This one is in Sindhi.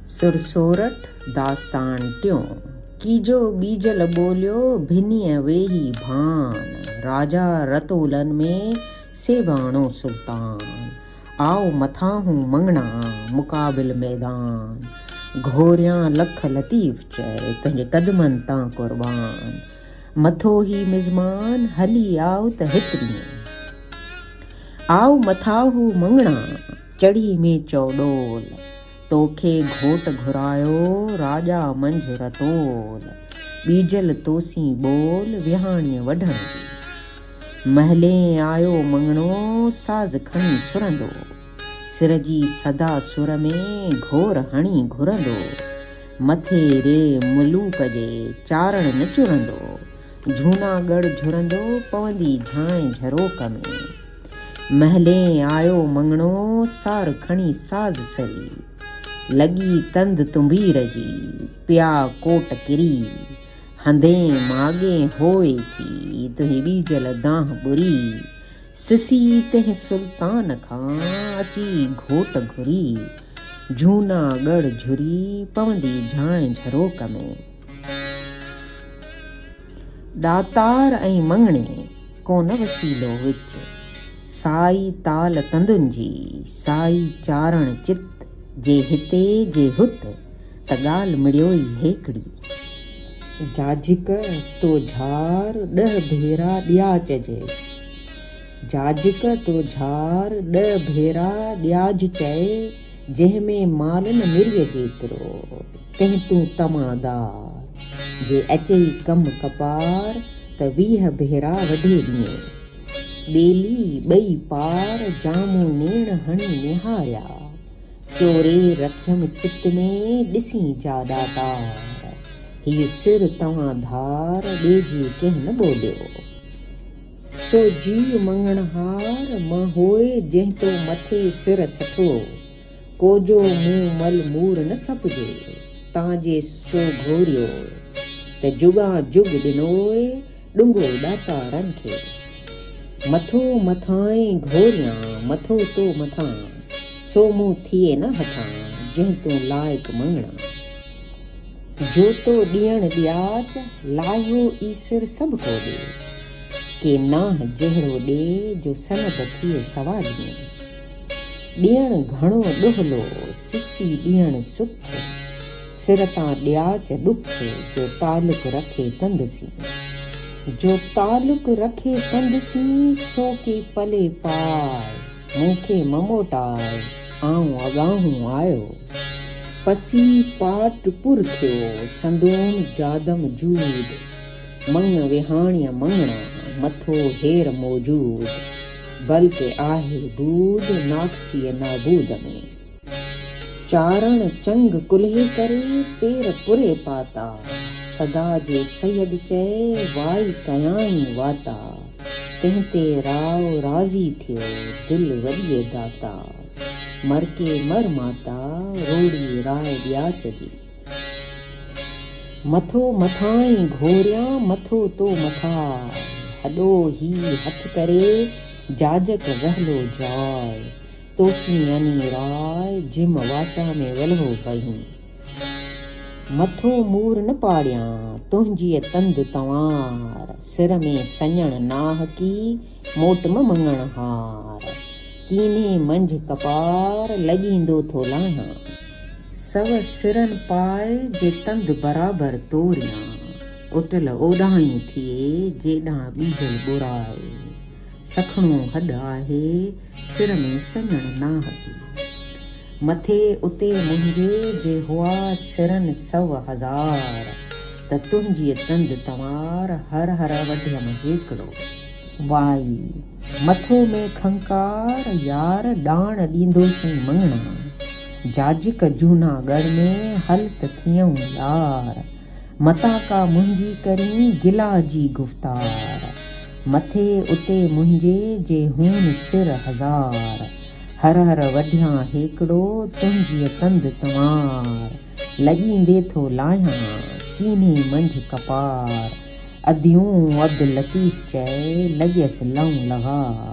سر سورٺ داستان ٽيون. ڪيجو ٻيجل ٻوليو ڀنيء ويهي ڀان. راجا رتولن ۾ سيباڻو سلطان. آء مٿاهون مڱڻا مقابل ميدان. گهوريان لک لطيف چئي تنهنجي قدمن تان قربان. مٿو هي مزمان هلي آء ته هت ڏينهن. آء مٿاهون مڱڻا. چڙهي ۾ چوڏول، توکي گهوٽ گهرايو، راڄا منجهه رتول، ٻيجل توسين ٻول، وهاڻيء وڍڻ جي. مهلين آيو مڱڻو، ساز کڻي ڇرندو، سر جي صدا سر ۾ گهور هڻي گهرندو، مٿي ري ملوڪ جي، چارڻ نه چرندو، جهوناڳڙهه جهرندو، پوندي جهانء جهروڪ ۾. محلين آيو مڱڻو، سار کڻي ساز سري. لڳي تند تنبير جي، پيا ڪوٽ ڪري. هندين ماڳين هوئي ٿي، تنهين ٻيجل دانهن ٻري. سسي تنهين سلطان کان، اچي گهوٽ گهري. جهونا ڳڙ جهري، پوندي جهانء جهروڪ ۾. ڏاتار ۽ مڱڻي. ڪونه وسيلو وچ، سائي تال تندن جي، سائي چارڻ چت، جي هتي جي هت، ته ڳالهه مڙيو ئي هيڪڙي. جاجڪ تو جھار ڏھ ڀيرا ڏياچ جي، جاجڪ تو جھار ڏھ ڀيرا ڏياج چئي، جنهن ۾ مال نه مريء جيترو، تنهن تون طمع دار. جي اچئي ڪم ڪپار، ته ويهه ڀيرا وڍي ڏينء. ٻيلي ٻئي پار، جامون نيڻ هڻي نهاريا. چوري رکيم چت ۾، ڏسين جا ڏاتار. هيء سر توهان ڌار، ٻيجي ڪنهن نه ٻوليو. تو جيء مڱڻهار مان هوء جنهن تو مٿي سر سٺو ڪوجو مون مل مور نه سپجي تان جي سو گهوريو ته جڳان جڳ ڏنوء ڏنگو ڏاتارن کي مٿو مٿانئين گهوريان مٿو تو مٿان سو مون ٿئي نه هٺان جنهن تون لائق مڱڻا. جوتو ڏيڻ ڏياچ، لاهيو ايسر سڀ ڪو ڏي. ڪي نانه جهڙو ڏي، جو سند ٿئي سوا ڏينهن. ڏيڻ گهڻو ڏهلو، سسي ڏيڻ سٺ. سر تان ڏياچ ڏک، جو تعلق رکي تند سين. جو تعلق رکي تند سين، سو ڪي پلي پائي. مون کي مه موٽاء، آئون اڳاهون آيو. پسي پاٽ پر ٿيو، سندوم جادم جود. مڱ وهاڻيء مڱڻا، مٿو هير موجود. بلڪه آهي بود، ناقصيء نابود ۾. چارڻ چنگ ڪلهي ڪري، پير پري پاتا. سدا جي سيد چئي، وائي ڪيائين واتا. تنهن تي راء راضي ٿيو، دل وڏيء داتا. مر ڪي مر ماتا، روڙي راء ڏياچ جي. مٿو مٿانئين گهوريان، مٿو تو مٿاء. هڏو هي هٿ ڪري، جاجڪ وهلو جاء. توسين يعني راء جم واٽا ۾ ولهو ڪيون. مٿو مور نه پاڙيان، تنهنجيء تند تنوار. سر ۾ سڃڻ ناهڪي، موٽ م مڱڻ هار. ڪيني منجهه ڪپار، لڄيندو ٿو لاهيان. سو سرن پاء، جي تند برابر توريان. اوٽل اوڏانهين ٿئي، جيڏانهن ٻيجل ٻراء. سکڻو هڏ آهي، سر ۾ سڃڻ ناهڪي. مٿي اتي منهنجي جي هئا سرن سو هزار، ته تنهنجيء تند تنوار هر هر وڍيم هيڪڙو. وائي! مٿو ۾ کنڪار يار ڏاڻ ڏيندو سئي مڱڻا، جاجڪ جهونا ڳڙ ۾، هل ته ٿيئون يار، متان ڪا منهنجي ڪرين گلا جي گفتار. مٿي اتي منهنجي جي هون سر هزار. هر هر وڍيان هيڪڙو تنهنجيء تند تنوار. لڄيندي ٿو لاهيان ڪينهي منجهه ڪپار. اديون عبداللطيف چئي لڳيس لئون لغار.